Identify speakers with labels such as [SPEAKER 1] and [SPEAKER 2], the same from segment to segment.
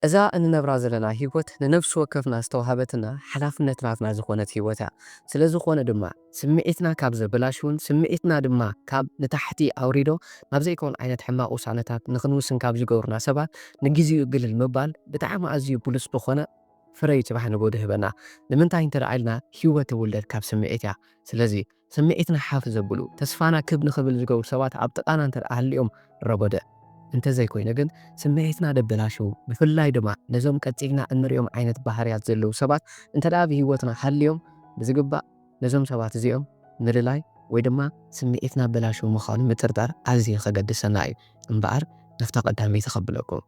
[SPEAKER 1] እዛ እንነብራ ዘለና ህይወት ንነብሲ ወከፍና ዝተዋህበትና ሓላፍነት ናትና ዝኾነት ህይወት እያ። ስለዝኾነ ድማ ስምዒትና ካብ ዘበላሽዉን ስምዒትና ድማ ካብ ንታሕቲ ኣውሪዶ ናብ ዘይከውን ዓይነት ሕማቕ ውሳነታት ንኽንውስን ካብ ዝገብሩና ሰባት ንግዚኡ ግልል ምባል ብጣዕሚ ኣዝዩ ብሉጽ ዝኾነ ፍረ'ዩ ጽባሕ ንጎድህ ህበና። ንምንታይ እንተድኣ ኢልና ህይወት ትውለድ ካብ ስምዒት እያ። ስለዚ። ስምዒትና ሓፍ ዘብሉ፣ ተስፋና ክብ ንኽብል ዝገብሩ ሰባት ኣብ ጥቓና እንተ ደኣ ሃልዮም ረጎደ። እንተ ዘይኮይኑ ግን ስምዒትና ደበላሽዉ፣ ብፍላይ ድማ ነዞም ቀጺልና እንርእዮም ዓይነት ባህርያት ዘለዉ ሰባት እንተ ደኣ ኣብ ህይወትና ሃልዮም ብዝግባእ ነዞም ሰባት እዚኦም ምልላይ ወይ ድማ ስምዒትና ኣበላሽዉ ምዃኑ ምጥርጣር ኣዝዩ ከገድሰና እዩ እምበኣር ናብታ ቀዳመይቲ ከብለኩም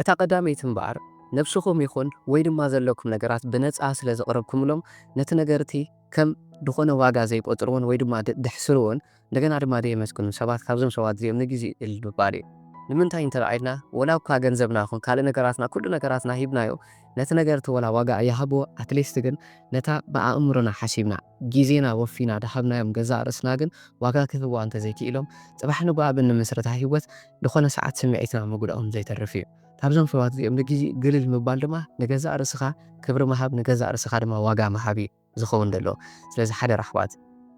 [SPEAKER 1] እታ ቀዳመይቲ እምበኣር፣ ነብስኹም ይኹን ወይ ድማ ዘለኩም ነገራት ብነጻ ስለ ዘቕረብኩምሎም፣ ነቲ ነገር'ቲ ከም ድኾነ ዋጋ ዘይቆጽርዎን ወይ ድማ ደሕስርዎን፣ እንደገና ድማ ደየመስግኑን ሰባት ካብዞም ሰባት እዚኦም ንግዝኢ እል ምባል እዩ። ንምንታይ እንተድኣ ኢልና፣ ወላ እኳ ገንዘብና ይኹን ካልእ ነገራትና ኩሉ ነገራትና ሂብናዮ፣ ነቲ ነገር'ቲ ወላ ዋጋ ኣይሃብዎ ኣትሊስት ግን ነታ ብኣእምሮና ሓሲብና ግዜና ወፊና ድሃብናዮም ገዛእ ርእስና ግን ዋጋ ክህብዋ እንተዘይክኢሎም ጽባሕ ንግሆ ኣብ እንምስርታ ሂወት ድኾነ ሰዓት ስምዒትና ምጉድኡ ከምዘይተርፍ እዩ ካብዞም ሰባት እዚኦም ንግዜኡ ግልል ምባል ድማ ንገዛእ ርእስኻ ክብሪ ምሃብ ንገዛእ ርእስኻ ድማ ዋጋ ምሃብ እዩ። ዝኸውን ደሎ ስለዚ ሓደራ ኣሕዋት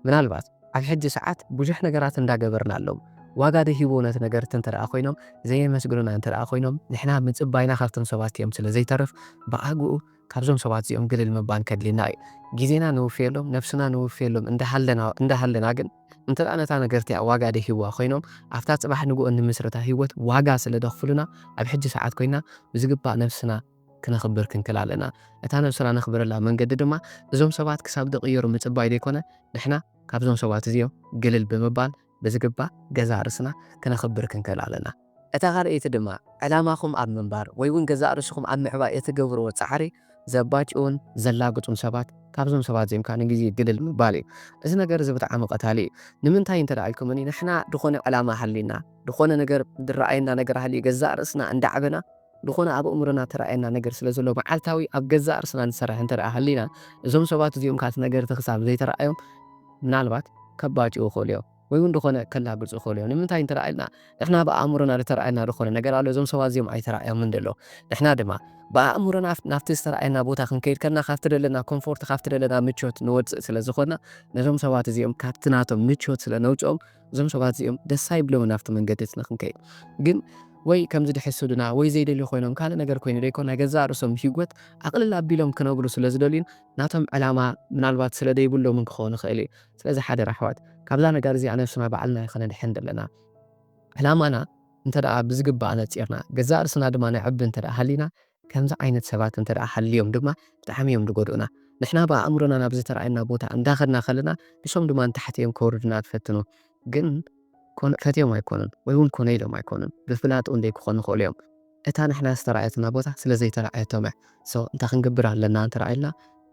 [SPEAKER 1] ምናልባት ኣብ ሕጂ ሰዓት ቡዙሕ ነገራት እንዳ ገበርናሎም ዋጋ ደይሂብዎ ነቲ ነገርት እንተ ደኣ ኮይኖም ዘየመስግኑና እንተ ደኣ ኮይኖም ንሕና ምጽባይና ካብቶም ሰባት ቲኦም ስለ ዘይተርፍ ብኣግኡ ካብዞም ሰባት ዚኦም ግልል ምባን ከድልየና እዩ ጊዜና ነውፍየሎም ነብስና ነውፍየሎም እንዳ ሃለና እንዳ ሃለና ግን እንተ ደኣ ነታ ነገር ቲኣ ዋጋ ደይሂብዋ ኮይኖም ኣብታ ጽባሕ ንግሆ እንምስርታ ሂወት ዋጋ ስለ ደኽፍሉና ኣብ ሕጂ ሰዓት ኮይና ብዝግባእ ነብስና ክነኽብር ክንክል ኣለና። እታ ነብስና ነኽብረላ መንገዲ ድማ እዞም ሰባት ክሳብ ዝቕየሩ ምጽባይ ዘይኮነ፣ ንሕና ካብዞም ሰባት እዚኦም ግልል ብምባል ብዝግባእ ገዛእ ርእስና ክነኽብር ክንክል ኣለና። እታ ካልኣይቲ ድማ ዕላማኹም ኣብ ምንባር ወይ ውን ገዛእ ርእስኹም ኣብ ምዕባይ እትገብርዎ ጻዕሪ ዘባጭዉን ዘላግጹን ሰባት ካብዞም ሰባት እዚኦም ከኣ ንግዜ ግልል ምባል እዩ። እዚ ነገር እዚ ብጣዕሚ ቀታሊ እዩ። ንምንታይ እንተ ኢልኩምኒ ንሕና ዝኾነ ዕላማ ሃልዩና፣ ዝኾነ ነገር ዝረኣየና ነገር ሃልዩ ገዛእ ርእስና እንዳዕበና፣ ዝኾነ ኣብ ኣእምሮና እተራእየና ነገር ስለ ዘሎ መዓልታዊ ኣብ ገዛእ ርእስና ንሰርሕ እንተ ደኣ ሃሊና፣ እዞም ሰባት እዚኦም ከኣ እቲ ነገር እቲ ክሳብ ዘይተራእዮም ምናልባት ከባጭዉ ይኽእሉ እዮም። ወይ እውን ዝኾነ ከላግጹ ይኽእሉ እዮም። ንምንታይ እንተ ደኣ ኢልና ንሕና ብ ኣእምሮና ዝተራእየና ዝኾነ ነገር ኣሎ፣ እዞም ሰባት እዚኦም ኣይተራእዮምን ደለዉ። ንሕና ድማ ብኣእምሮና ናብቲ ዝተራእየና ቦታ ክንከይድ ከለና ካብቲ ደለና ኮንፎርት ካብቲ ደለና ምቾት ንወጽእ ስለ ዝኾንና ነዞም ሰባት እዚኦም ካብቲ ናቶም ምቾት ስለ ነውጽኦም እዞም ሰባት እዚኦም ደስ ኣይብሎምን ኣብቲ መንገዲ እቲ ንኽንከይድ ግን ወይ ከምዚ ድሕስዱና ወይ ዘይደልዩ ኮይኖም ካልእ ነገር ኮይኑ ደይኮን ናይ ገዛእ ርእሶም ሂወት ኣቕልል ኣቢሎም ክነብሩ ስለ ዝደልዩን ናቶም ዕላማ ምናልባት ስለ ደይብሎምን ክኸውን ይኽእል እዩ ስለዚ ሓደራ ኣሕዋት ካብዛ ነገር እዚኣ ነብስና ባዕልና ኢና ከነድሕን ዘለና ዕላማና እንተ ብዝግባእ ኣነጺርና ገዛእ ርእስና ድማ ነዕቢ እንተ ሃሊና ከምዚ ዓይነት ሰባት እንተ ደኣ ሃልዮም ድማ ብጣዕሚ እዮም ዝጎድኡና። ንሕና ብኣእምሮና ናብ ዝተራእየና ቦታ እንዳ ከድና ከለና ንሶም ድማ ንታሕቲ እዮም ከውርዱና ዝፈትኑ። ግን ኮነ ፈትዮም ኣይኮኑን ወይ ውን ኮነ ኢሎም ኣይኮኑን ብፍላጥ ውን ደይ ክኾኑ ይኽእሉ እዮም። እታ ንሕና ዝተራእየትና ቦታ ስለ ዘይተራእየቶም እያ። So እንታይ ክንገብር ኣለና እንተ ደኣ ኢልና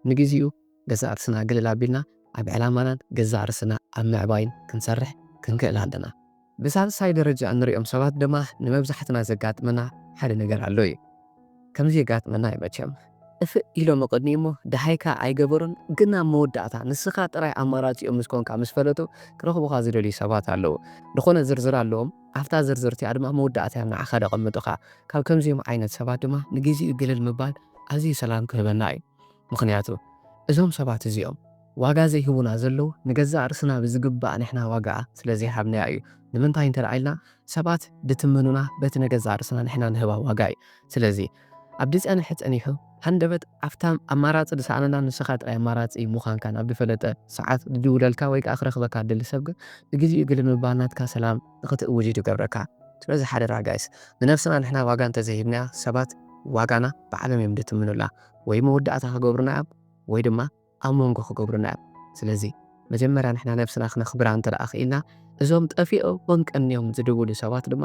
[SPEAKER 1] ንግዚኡ ገዛእ ርስና ግልል ኣቢልና ኣብ ዕላማናን ገዛእ ርስና ኣብ ምዕባይን ክንሰርሕ ክንክእል ኣለና። ብሳልሳይ ደረጃ እንሪኦም ሰባት ድማ ንመብዛሕትና ዘጋጥመና ሓደ ነገር ኣሎ እዩ። ከምዚ የጋጥመና እዩ መቸም። ጥፍእ ኢሎም እቕድሚኡ እሞ ደሃይካ ኣይገበሩን ግን ኣብ መወዳእታ ንስኻ ጥራይ ኣማራጺኦም ምስ ኮንካ ምስ ፈለጡ ክረኽቡኻ ዝደልዩ ሰባት ኣለዉ። ዝኾነ ዝርዝር ኣለዎም ኣብታ ዝርዝር እቲኣ ድማ መወዳእታዮም ንዓኻ ደቐምጡኻ። ካብ ከምዚኦም ዓይነት ሰባት ድማ ንግዚኡ ግልል ምባል ኣዝዩ ሰላም ክህበና እዩ። ምኽንያቱ እዞም ሰባት እዚኦም። ዋጋ ዘይህቡና ዘለዉ ንገዛእ ርስና ብዝግባእ ንሕና ዋጋ ስለ ዘይሃብናያ እዩ ንምንታይ እንተ ኢልና ሰባት ድትምኑና በቲ ንገዛእ ርስና ንሕና ንህባ ዋጋ እዩ ስለዚ ኣብ ድጸንሐ ጸኒሑ ሃንደበት ኣብታ ኣማራጺ ድሰኣነላ ንስኻ ጥራይ ኣማራጺ ሙኻንካ ናብ ድፈለጠ ሰዓት ድድውለልካ ወይ ከኣ ክረኽበካ ድደሊ ሰብ ግን ብግዚኡ ግልል ምባል ናትካ ሰላም ንኽትእውጅ እዩ ድገብረካ ስለዚ ሓደራ ጋይስ ንነብስና ንሕና ዋጋ እንተ ዘይሂብናያ ሰባት ዋጋና ባዕሎም እዮም ድትምኑላ ወይ መወዳእታ ክገብሩና እዮም ወይ ድማ ኣብ መንጎ ክገብሩና እዮም ስለዚ መጀመርያ ንሕና ነብስና ክነኽብራ እንተ ክኢልና እዞም ጠፊኦሞም ቀንዮም ዝድውሉ ሰባት ድማ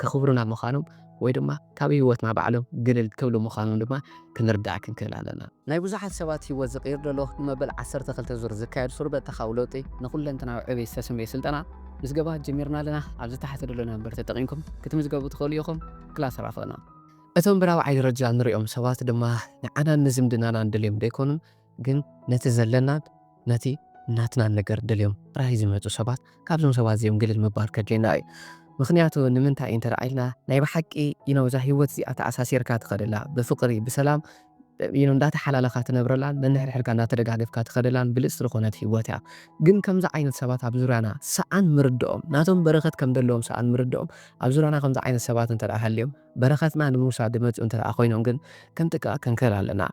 [SPEAKER 1] ከኽብሩና ምዃኖም ወይ ድማ ካብ ሂወትና ባዕሎም ግልል ክብሉ ምዃኖም ድማ ክንርዳእ ክንክእል ኣለና። ናይ ብዙሓት ሰባት ሂወት ዝቅይር ዘሎ ንመበል ዓሰርተ ክልተ ዙር ዝካየድ ሱር በተኻዊ ለውጢ ንኹለንተናዊ ዕብይ ዝተሰምየ ስልጠና ምዝገባ ጀሚርና ኣለና ኣብዚ ታሕቲ ደሎ ናምበር ተጠቂምኩም ክትምዝገቡ ትኽእሉ ኢኹም ክላስ ራፈና። እቶም ብራብዓይ ደረጃ እንርእዮም ሰባት ድማ ንዓናን ንዝምድናናን ደልዮም ደይኮኑን ግን ነቲ ዘለናን ነቲ ናትናን ነገር ደልዮም ጥራይ ዝመጹ ሰባት ካብዞም ሰባት እዚኦም ግልል ምባል ከድልየና እዩ ምኽንያቱ ንምንታይ እንተ ኢልና ናይ ብሓቂ ኢኖ እዛ ሂወት እዚኣ ተኣሳሲርካ ትኸደላ ብፍቕሪ ብሰላም ኢኖ እንዳተሓላለኻ ትነብረላን ነንሕድሕድካ እንዳተደጋገፍካ ትኸደላን ብልጽቲ ዝኾነት ሂወት እያ ግን ከምዚ ዓይነት ሰባት ኣብ ዙርያና ሰኣን ምርድኦም ናቶም በረኸት ከም ደለዎም ሰኣን ምርድኦም ኣብ ዙርያና ከምዚ ዓይነት ሰባት እንተ ሃልዮም በረከትና ንምውሳድ ድመጹ እንተደኣ ኮይኖም ግን ክንጥቅቅ ክንክእል ኣለና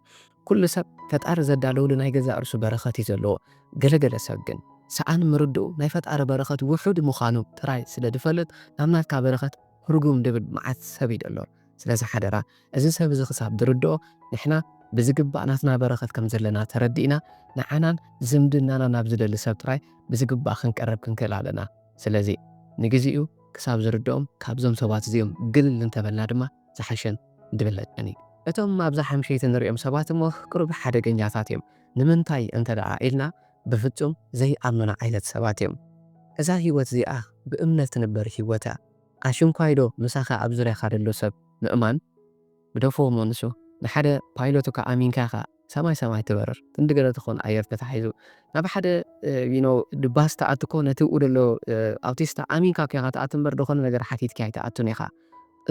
[SPEAKER 1] ኩሉ ሰብ ፈጣሪ ዘዳለወሉ ናይ ገዛእ ርእሱ በረከት እዩ ዘለዎ ገለ ገለ ሰብ ግን ሰኣን ምርድኡ ናይ ፈጣሪ በረከት ውሑድ ምካኑ ጥራይ ስለ ድፈልጥ ናብ ናትካ በረከት ርጉም ድብል መዓት ሰብ እዩ ደሎ ስለዚ ሓደራ እዚ ሰብ እዚ ክሳብ ድርድኦ ንሕና ብዝግባእ ናትና በረከት ከም ዘለና ተረዲእና ንዓናን ዝምድናና ናብ ዝደሊ ሰብ ጥራይ ብዝግባእ ክንቀርብ ክንክእል ኣለና ስለዚ ንግዚኡ ክሳብ ዝርድኦም ካብዞም ሰባት እዚኦም ግልል እንተበልና ድማ ዝሓሸን ድብለጸን እዩ። እቶም ኣብዛ ሓምሸይቲ ንርእዮም ሰባት እሞ ቅሩብ ሓደገኛታት እዮም። ንምንታይ እንተደኣ ኢልና ብፍጹም ዘይኣምኑና ዓይነት ሰባት እዮም። እዛ ህይወት እዚኣ ብእምነት ትንበር ህይወት እያ። ኣሽንኳይዶ ምሳኻ ኣብ ዙርያኻ ደሎ ሰብ ምእማን? ግደፎ እሞ ንሱ ንሓደ ፓይሎት እካ ኣሚንካ ኢካ ሰማይ ሰማይ ትበርር ክንዲ ገለ ትኮን ኣየር ተታሒዙ ናብ ሓደ you know ድባስ ትኣቱ እኮ ነቲ ኣብኡ ዘሎ ኣውቲስታ ኣሚንካ እኮ ኢካ ትኣቱ እምበር ድኮነ ነገር ሓቲትኪ ኣይትኣቱን ኢካ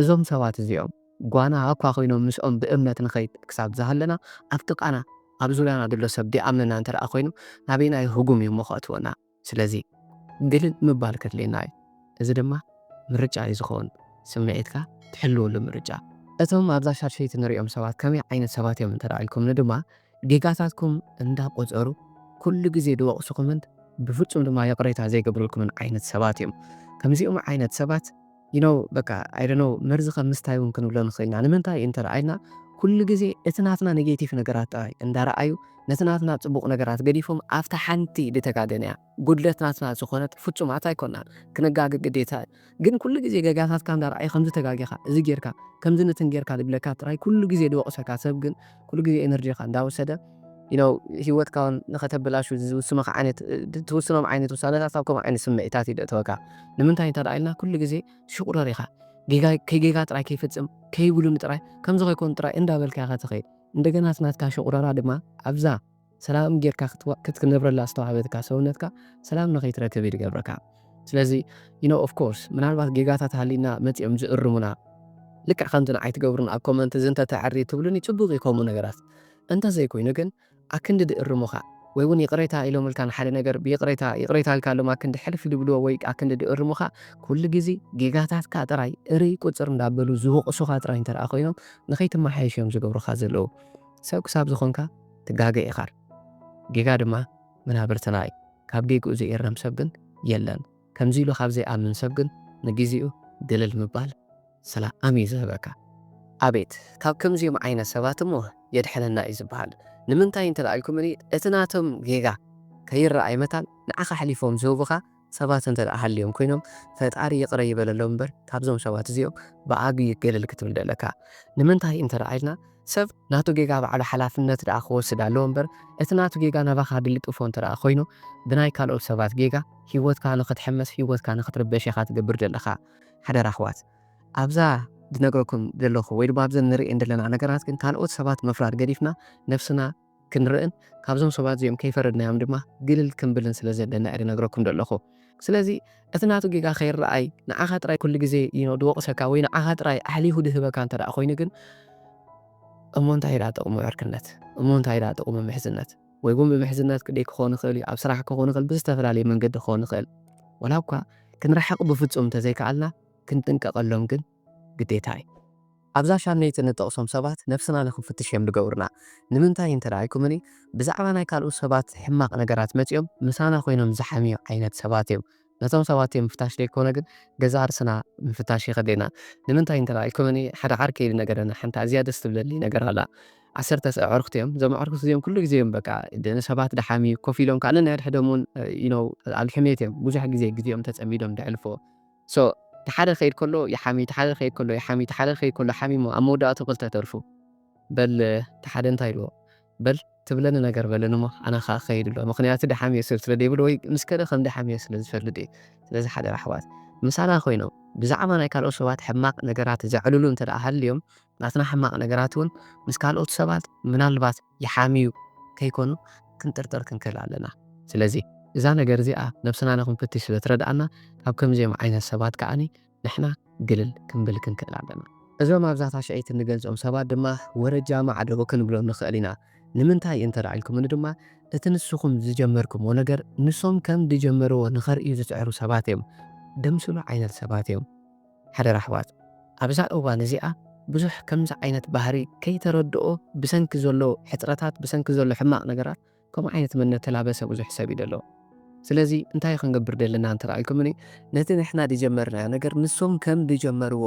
[SPEAKER 1] እዞም ሰባት እዚኦም ጓና ኣኳ ኮይኖም ምስኦም ብእምነት ንከይድ ክሳብ ዝሃለና ኣብ ጥቃና ኣብ ዙርያና ዘሎ ሰብ ደይኣምነና እንተ ኮይኑ ናበየናይ ህጉም እዩሞ ከእትወና ስለዚ ግልል ምባል ከድልየና እዩ። እዚ ድማ ምርጫ እዩ ዝኸውን፣ ስምዒትካ ትሕልወሉ ምርጫ። እቶም ኣብዛ ሻድሸይቲ ንርእዮም ሰባት ከመይ ዓይነት ሰባት እዮም እንተ ኢልኩምኒ ድማ፣ ጌጋታትኩም እንዳ ቆጸሩ ኩሉ ግዜ ዝወቕሱኹምን ብፍጹም ድማ ይቕሬታ ዘይገብሩልኩምን ዓይነት ሰባት እዮም። ከምዚኦም ዓይነት ሰባት። You know በቃ I don't know መርዚ ከም ምስታይ ውን ክንብሎ ንኽእል ኢና ንምንታይ እንተ ረኣይና ኩሉ ግዜ እቲ ናትና ኔጌቲቭ ነገራት ጥራይ እንዳ ረኣዩ ነቲ ናትና ጽቡቕ ነገራት ገዲፎም ኣብታ ሓንቲ ድተጋገንያ ጉድለት ናትና ዝኾነት ፍጹማት ኣይኮናን ክንጋገ ግዴታ እዩ ግን ኩሉ ግዜ ገጋታትካ እንዳ ረኣዩ ከምዚ ተጋጊኻ እዚ ጌርካ ከምዚ ንትን ጌርካ ድብለካ ጥራይ ኩሉ ግዜ ድወቕሰካ ሰብ ግን ኩሉ ግዜ ኤነርጂኻ እንዳ ወሰደ you know ሂወትካ ውን ንኸተበላሹ ዝውስኑኻ ዓይነት ትውስኖም ዓይነት ውሳነታት ኣብ ከምኡ ዓይነት ስምዒታት እዩ ደእተወካ ንምንታይ እንተ ኢልና ኩሉ ግዜ ሽቑረር ኢኻ ጌጋ ከይጌጋ ጥራይ ከይፍጽም ከይጉሉኒ ጥራይ ከምዚ ከይኮኑ ጥራይ እንዳበልካ ኢኻ ትኸይድ እንደገና እቲ ናትካ ሽቑረራ ድማ ኣብዛ ሰላም ጌርካ ክትነብረላ ዝተዋህበትካ ሰውነትካ ሰላም ንኸይትረክብ እዩ ዝገብረካ ስለዚ you know of course ምናልባት ጌጋታት ሃሊና መጺኦም ዝእርሙና ልክዕ ከምቲ ንዓይ ትገብሩን ኣብ ኮመንት እዚ እንተ ተዕሪ ትብሉኒ ጽቡቕ እዩ ከምኡ ነገራት እንተ ዘይኮይኑ ግን ኣክንዲ ድእርሙኻ ወይ እውን ይቕሬታ ኢሎምልካ ንሓደ ነገር ብይቕሬታ ይቕሬታ ኢልካሎም ኣክንዲ ሕልፍ ድብልዎ ወይ ኣክንዲ ድእርሙኻ ኩሉ ግዜ ጌጋታትካ ጥራይ እርይ ቁጽር እንዳበሉ ዝወቕሱኻ ጥራይ እንተ ኮይኖም ንኸይትመሓየሽ እዮም ዝገብሩኻ ዘለዉ ሰብ ክሳብ ዝኾንካ ትጋገ ኢኻር ጌጋ ድማ መናብርትና እዩ ካብ ጌግኡ ዘይእረም ሰብ ግን የለን ከምዚ ኢሉ ካብ ዘይኣምን ሰብ ግን ንጊዚኡ ግልል ምባል ሰላኣም እዩ ዝህበካ። ኣቤት ካብ ከምዚኦም ዓይነት ሰባት እሞ የድሕነና እዩ ዝብሃል ንምንታይ እንተ ኢልኩምኒ እቲ ናቶም ጌጋ ከይረኣይ መታን ንዓኻ ኣሕሊፎም ዝህቡኻ ሰባት እንተድኣ ሃልዮም ኮይኖም ፈጣሪ ይቅረ ይበለሎም እምበር ካብዞም ሰባት እዚኦም ብዓብዪ ገለል ክትብል ደለካ ንምንታይ እንተድኣ ኢልና ሰብ ናቱ ጌጋ ባዕሉ ሓላፍነት ድኣ ክወስድ ኣለዎ እምበር እቲ ናቱ ጌጋ ናባኻ ድልጥፎ እንተድኣ ኮይኑ ብናይ ካልኦት ሰባት ጌጋ ሂወትካ ንኽትሕመስ ሂወትካ ንኽትርበሽ ኢኻ ትገብር ደለኻ ሓደራ ኣሕዋት ኣብዛ ድነግረኩም ደለኹ ወይ ድማ ኣብዘን ንርእየን ደለና ነገራት ግን ካልኦት ሰባት ምፍራድ ገዲፍና ነብስና ክንርእን ካብዞም ሰባት እዚኦም ከይፈረድናዮም ድማ ግልል ክንብልን ስለ ዘለና እየ ዝነግረኩም ዘለኹ። ስለዚ እቲ ናቱ ጌጋ ከይረኣይ ንዓኻ ጥራይ ኩሉ ግዜ you know ዝወቕሰካ ወይ ንዓኻ ጥራይ ኣሕሊኹ ዝህበካ እንተ ደኣ ኮይኑ ግን እሞ እንታይ ደኣ ጥቕሙ ዕርክነት? እሞ እንታይ ደኣ ጥቕሙ ምሕዝነት? ወይ እውን ብምሕዝነት ክንደይ ክኸውን ይኽእል እዩ? ኣብ ስራሕ ክኸውን ይኽእል፣ ብዝተፈላለየ መንገዲ ክኸውን ይኽእል። ዋላ እኳ ክንርሓቕ ብፍጹም እንተ ዘይከኣልና ክንጥንቀቐሎም ግን ግዴታ እዩ። ኣብዛ ሻምነይቲ እንጠቕሶም ሰባት ነብስና ንኽንፍትሽ እዮም ዝገብሩና። ንምንታይ እንተ ኢልኩምኒ፣ ብዛዕባ ናይ ካልኦት ሰባት ሕማቕ ነገራት መጺኦም ምሳና ኮይኖም ዝሓምዩ ዓይነት ሰባት እዮም። ነቶም ሰባት እዮም ምፍታሽ ዘይኮነ ግን ገዛእ ርእስና ምፍታሽ የኸድለና። ንምንታይ እንተ ኢልኩምኒ፣ ሓደ ዓርከይ ዝነገረኒ ሓንቲ ኣዝያ ደስ ትብለኒ ነገር ኣላ። ዓሰርተ ኣዕሩኽቲ እዮም። እዞም ኣዕሩኽቲ እዚኦም ኩሉ ግዜ እዮም በቃ ንሰባት ዝሓምዩ፣ ኮፍ ኢሎም ከኣ ነንሕድሕዶም እውን you know ኣብ ሕሜት እዮም ብዙሕ ግዜ ግዜኦም ተጸሚዶም ዘሕልፉ። so እቲ ሓደ ክኸይድ ከሎ ይሓሚ እቲ ሓደ ክኸይድ ከሎ ይሓሚ እቲ ሓደ ክኸይድ ከሎ ሓሚሞ ኣብ መወዳእትኡ ክልተ ተርፉ በል እቲ ሓደ እንታይ ኢልዎ በል ትብለኒ ነገር በለኒ እሞ ኣነ ከኣ ክኸይድ ኣሎ ምኽንያቱ ደሓምዮ ሰብ ስለ ደይብሉ ወይ ምስ ከደ ከም ደሓምዮ ስለ ዝፈልጥ እዩ ስለዚ ሓደራ ኣሕዋት ምሳና ኮይኖም ብዛዕባ ናይ ካልኦት ሰባት ሕማቕ ነገራት ዘዕልሉ እንተ ሃልዮም ናትና ሕማቕ ነገራት እውን ምስ ካልኦት ሰባት ምናልባት ይሓምዩ ከይኮኑ ክንጥርጥር ክንክእል ኣለና። ስለዚ እዛ ነገር እዚኣ ነብስና ንክንፍትሽ ስለ ትረድኣና ካብ ከምዚኦም ዓይነት ሰባት ከኣ ንሕና ግልል ክንብል ክንክእል ኣለና። እዞም ኣብዛ ታሽዐይቲ እንገልጾም ሰባት ድማ ወረጃ ማዕዶ ክንብሎም ንክእል ኢና። ንምንታይ እንተ ኢልኩምኒ ድማ እቲ ንስኹም ዝጀመርኩምዎ ነገር ንሶም ከም ድጀመርዎ ንከርእዩ ዝጽዕሩ ሰባት እዮም። ደምስሉ ዓይነት ሰባት እዮም። ሓደራ ኣሕዋት ኣብዛ እዋን እዚኣ ብዙሕ ከምዚ ዓይነት ባህሪ ከይተረድኦ ብሰንኪ ዘሎ ሕጽረታት ብሰንኪ ዘሎ ሕማቅ ነገራት ከምኡ ዓይነት መንነት ተላበሰ ብዙሕ ሰብ እዩ ደሎ ስለዚ እንታይ ክንገብር ደለና እንተ ኢልኩምኒ ነቲ ንሕና ድጀመርናዮ ነገር ንሶም ከም ድጀመርዎ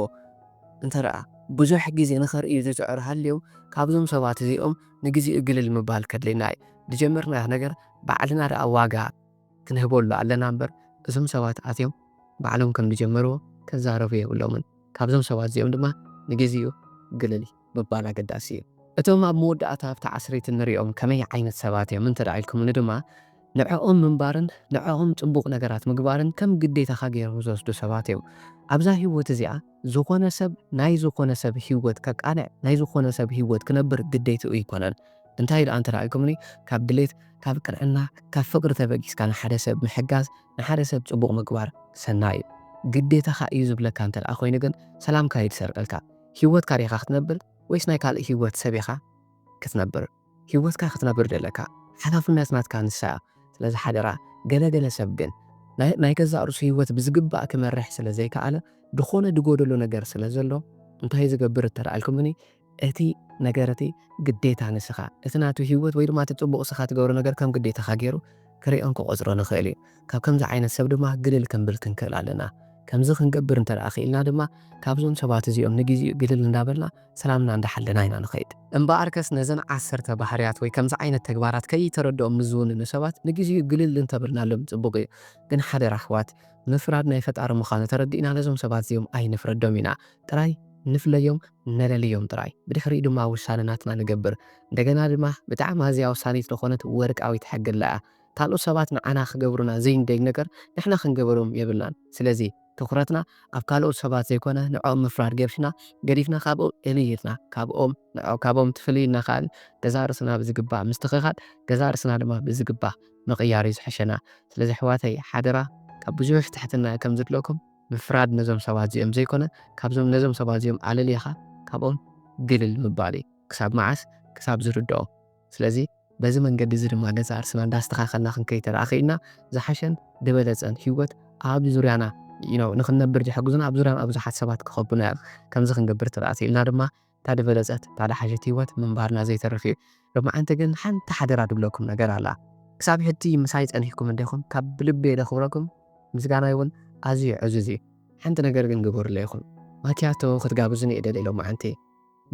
[SPEAKER 1] እንተ ብዙሕ ግዜ ንኸርእዩ ዝጽዕሩ ሃልዮም ካብዞም ሰባት እዚኦም ንግዚኡ ግልል ምባል ከድልየና እዩ ድጀመርናዮ ነገር ባዕልና ደኣ ዋጋ ክንህበሉ ኣለና እምበር እዞም ሰባት ኣትዮም ባዕሎም ከም ዝጀመርዎ ክዛረቡ የብሎምን። ካብዞም ሰባት እዚኦም ድማ ንግዚኡ ግልል ምባል ኣገዳሲ እዩ። እቶም ኣብ መወዳእታ ኣብታ ዓስሪት እንሪኦም ከመይ ዓይነት ሰባት እዮም እንተ ኢልኩምኒ ድማ ንዕኦም ምንባርን ንዕኦም ፅቡቕ ነገራት ምግባርን ከም ግዴታኻ ገይሮም ዝወስዱ ሰባት እዮም። ኣብዛ ህይወት እዚኣ ዝኾነ ሰብ ናይ ዝኾነ ሰብ ህይወት ከቃንዕ ናይ ዝኾነ ሰብ ህይወት ክነብር ግዴትኡ ኣይኮነን። እንታይ ደኣ እንተራኣይኩምኒ ካብ ድሌት ካብ ቅንዕና ካብ ፍቅሪ ተበጊስካ ንሓደ ሰብ ምሕጋዝ ንሓደ ሰብ ጽቡቅ ምግባር ሰናይ እዩ ግዴታኻ እዩ ዝብለካ እንተደኣ ኮይኑ ግን ሰላምካ እዩ ዝሰርቀልካ ሂወትካ ዲኻ ክትነብር ወይስ ናይ ካልእ ሂወት ሰብ ኢኻ ክትነብር ሂወትካ ክትነብር ደለካ ሓላፍነት ናትካ ንሳ እያ ስለዚ ሓደራ ገለ ገለ ሰብ ግን ናይ ገዛእ ርእሱ ሂወት ብዝግባእ ክመርሕ ስለ ዘይከኣለ ድኾነ ድጎደሎ ነገር ስለ ዘሎ እንታይ ዝገብር እንተደኣ ኢልኩምኒ እቲ ነገር እቲ ግዴታ ንስኻ እቲ ናቱ ህይወት ወይ ድማ እቲ ጽቡቕ እስኻ ትገብሮ ነገር ከም ግዴታኻ ጌሩ ክርእዮን ክቖጽሮን ይኽእል እዩ። ካብ ከምዚ ዓይነት ሰብ ድማ ግልል ክንብል ክንክእል ኣለና። ከምዚ ክንገብር እንተ ደኣ ክኢልና ድማ ካብዞም ሰባት እዚኦም ንግዜኡ ግልል እንዳበልና ሰላምና እንዳሓለና ኢና ንኸይድ። እምበኣርከስ ነዘን ዓሰርተ ባህርያት ወይ ከምዚ ዓይነት ተግባራት ከይተረድኦም ንዝውንኑ ሰባት ንግዜኡ ግልል እንተ በልናሎም ጽቡቕ እዩ። ግን ሓደራ ኣሕዋት ምፍራድ ናይ ፈጣሪ ምዃኑ ተረዲእና ነዞም ሰባት እዚኦም ኣይንፍረዶም ኢና ጥራይ ንፍለዮም። ነለልዮም ጥራይ ብድሕሪኡ ድማ ውሳነ ናትና ንገብር እንደገና ድማ ብጣዕሚ ኣዝያ ወሳኒት ልኾነት ወርቃዊት ሕግለ እያ ካልኦት ሰባት ንዓና ክገብሩና ዘይንደልዩ ነገር ንሕና ክንገበሮም የብልናን ስለዚ ትኹረትና ኣብ ካልኦት ሰባት ዘይኮነ ንዕኦም ምፍራድ ገብሽና ገዲፍና ካብኦም እልይ ኢልና ካብኦም ንዕኦም ካብኦም ትፍልይ ኢልና ከኣ ገዛእ ርእስና ብዝግባእ ምስትኽኻል ገዛእ ርእስና ድማ ብዝግባእ ምቕያር እዩ ዝሕሸና ስለዚ ኣሕዋተይ ሓደራ ካብ ብዙሕ ትሕትና እዩ ከምዝድለኩም ምፍራድ ነዞም ሰባት እዚኦም ዘይኮነ ካብዞም ነዞም ሰባት እዚኦም ኣለሊኻ ካብኦም ግልል ምባል እዩ ክሳብ መዓስ ክሳብ ዝርድኦ ስለዚ በዚ መንገዲ እዚ ድማ ገዛእ ርስና እንዳስተኻኸልና ክንከይድ ተደኣኺኢልና ዝሓሸን ድበለጸን ሂወት ኣብ ዙርያና ንኽንነብር ዝሕግዙና ኣብ ዙርያና ብዙሓት ሰባት ክኸቡና እዮም ከምዚ ክንገብር ተደኣኺኢልና ድማ እታ ድበለጸት እታ ድሓሸት ሂወት ምንባርና ዘይተርፍ እዩ ሎምዓንቲ ግን ሓንቲ ሓደራ ድብለኩም ነገር ኣላ ክሳብ ሕጂ ምሳይ ጸኒሕኩም እንዲኹም ካብ ብልበይ ደኽብረኩም ምስጋናይ ውን ኣዝዩ ዕዙዝ እዩ ሓንቲ ነገር ግን ግበሩለይ ኢኹም ማክያቶ ክትጋብዙኒ እደሊ ሎምዓንቲ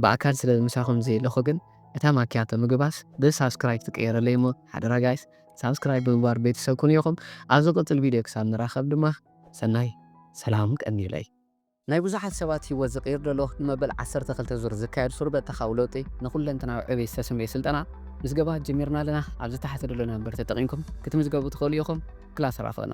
[SPEAKER 1] ብኣካል ስለ ምሳኹም ዘየለኹ ግን እታ ማክያቶ ምግባስ ብ ሳብስክራይብ ትቅየረለይ እሞ ሓደራ ጋይስ ሳብስክራይብ ብምግባር ቤተሰብ ኩኑ ኢኹም ኣብ ዝቅጽል ቪድዮ ክሳብ ንራኸብ ድማ ሰናይ ሰላም ቀንዩለይ። ናይ ብዙሓት ሰባት ህይወት ዝቕይር ዘሎ ንመበል ዓሰርተ ክልተ ዙር ዝካየድ ሱር በተኻዊ ለውጢ ንኩለንተናዊ ዕብየት ዝተሰምየ ስልጠና ምዝገባ ጀሚርና ኣለና። ኣብ ዝተሓተ ደሎ ነምበር ተጠቒምኩም ክትምዝገቡ ትኽእሉ ኢኹም። ክላስ ራፍቕና!